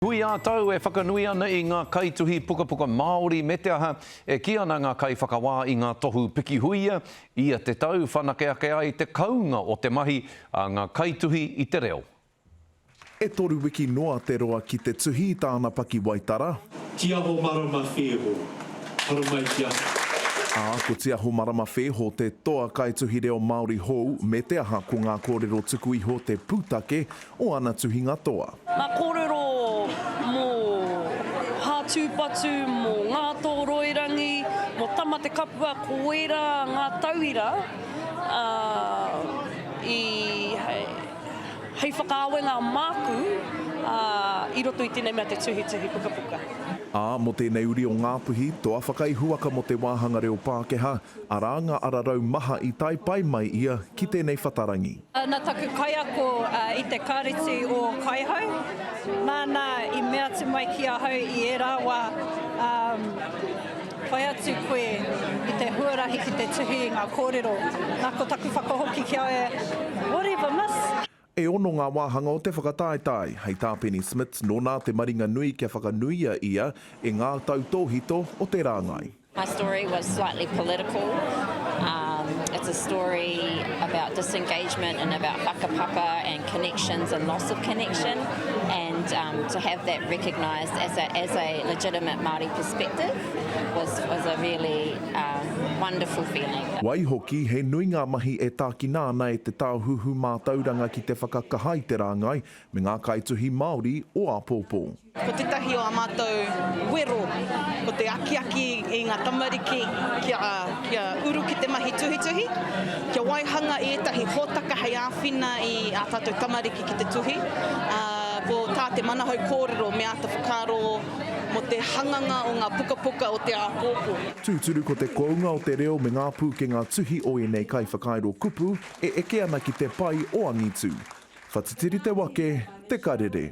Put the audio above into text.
Hui ā-tau e whakanui ana i ngā kaituhi pukapuka Māori me te aha, e kī ana ngā kaiwhakawā i ngā tohu pikihuia, ia te tau whanake ake ai te kounga o te mahi a ngā kaituhi i te reo. E toru wiki noa te roa ki te tuhi i tāna pakiwaitara. Tiaho Marama Wheho, haramai ki ahau. Ā, ko Tiaho Marama Wheho te toa kaituhi reo Māori hou, me te aha, ko ngā kōrero tuku iho te pūtake o ana tuhinga toa. Ngā kōrero mō Hātūpatu, mō Ngātōroirangi, mō Tamatekapua, ko ērā ngā tauira i hei whakaawenga māku i roto i tēnei mea te tuhituhi pukapuka. Ā, mō tēnei uri o Ngāpuhi, toa whakaihuwaka mō te wāhanga reo Pākehā, arā ngā ararau maha i tae pai mai ia ki tēnei whatarangi. Na taku kaiako i te Kāreti o Kaihau, nāna i mea atu mai ki ahau i ērā wā, whai atu koe i te huarahi ki te tuhi i ngā kōrero. Na ko taku whakahoki ki a ia, Whatever, miss! E ono ngā wāhanga o te whakataetae. Hei tā Penny Smits, nō nā te maringa nui kia whakanuia ia e ngā tautōhito o te rāngai. My story was slightly political. Um, it's a story about disengagement and about whakapapa and connections and loss of connection, and um, to have that recognised as a, as a legitimate Māori perspective was, was a really uh, wonderful feeling. Waihoki, he nui ngā mahi e tākina ana e te Tāhuhu Mātauranga ki te whakakaha i te rāngai Me ngā kaituhi Māori o āpōpō. Ko tētahi o ā mātou wero, ko te akiaki i ngā tamariki kia, kia uru ki te mahi tuhituhi, kia waihanga i ētahi hōtaka hei āwhina i ā tātou tamariki ki te tuhi, ā, ko tā te manahau kōrero me āta whakaaro mō te hanganga o ngā pukapuka o te āpōpō. Tūturu ko te kounga o te reo me ngā pūkenga tuhi o ēnei kaiwhakairo kupu, E eke ana ki te pai o angitu. Whatitiri te wake, te karere.